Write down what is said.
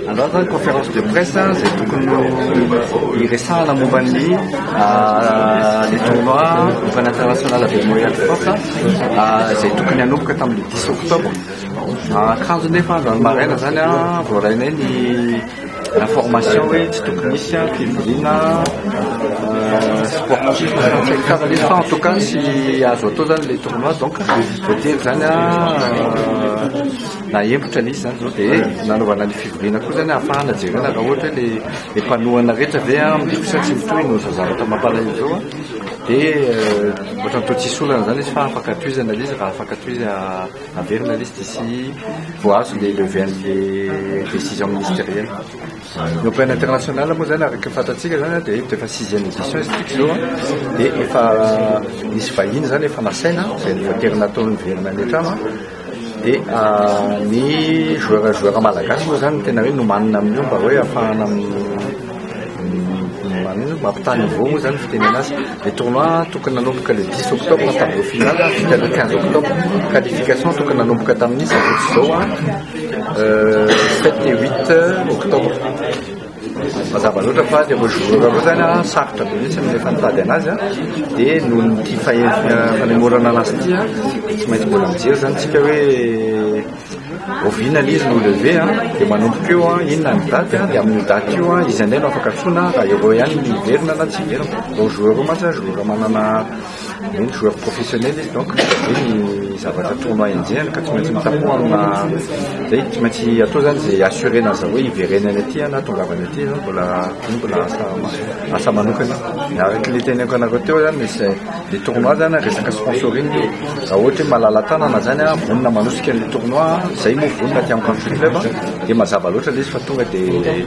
Androany zany conférence de presse zay tokony hiresahana momba ny le tournoi Open International avec Montréal Sports izay tokony hanomboka tamin'ny 10 octobre. Kanjo nefa androany maraina zany voarainay ny information hoe tsy tokony misy fivoriana sportif karazana izy fa en tout cas tsy azo atao zany le tournoi donc voatery zany Nahemotra ny izy izany izao dia nanaovana ny fivoriana koa izany hahafahana jerena raha ohatra hoe ilay mpanohana rehetra ve mitohy sa tsy mitohy noho izao zavatra mampalahelo izao dia ohatrany toa tsisy olana izany izy fa afaka tohizana ilay izy raha afaka tohizana averina ilay izy dia tsy vao azo ilay lever an'ilay décision ministérielle. Ny au plan international moa izany araka ny fantatsika izany dia eto dia efa sixième édition izy ity izao dia efa misy vahiny izany efa nasaina izay no voatery natao niverina any an-trano. Dia ny joueur joueur malagasy moa izany tena hoe nomanina amin'io mba hoe hahafahana mampitaha niveau moa izany ny fitenena azy. Ny tournoi tokony nanomboka le 10 octobre ny tableau final vita le 15 octobre. Qualification tokony nanomboka tamin'ny sabotsy izao 7 et 8 octobre. Mazava loatra fa le roger roa zany a sarotra be mihitsy ny rehefa nitady anazy a de noho ny ity fanemorana anazy ity a tsy maintsy mbola mijery zany tsika hoe oviana le izy no levé a de manomboka eo a inona ny date a de amin'io date io a izy indray no afaka antsoina raha ireo ihany no miverina na tsy miverina roger roa mantsy a jour manana Hoe ny joueur professionnel izy donc izay ny zavatra tournoi enjehiny ka tsy maintsy mitapoha amina izay tsy maintsy atao zany izay assurer an'izany hoe hiverena any aty na tongavany aty zany mbola iny mbola asa asa manokana dia araka ilay teneniko anareo teo zany misy le tournoi zany resaka sponsoring raha ohatra hoe malala-tanana zany a vonona manosika ny tournoi izay moa vonona aty amin'ny country club dia mazava loatra ilay izy fa tonga dia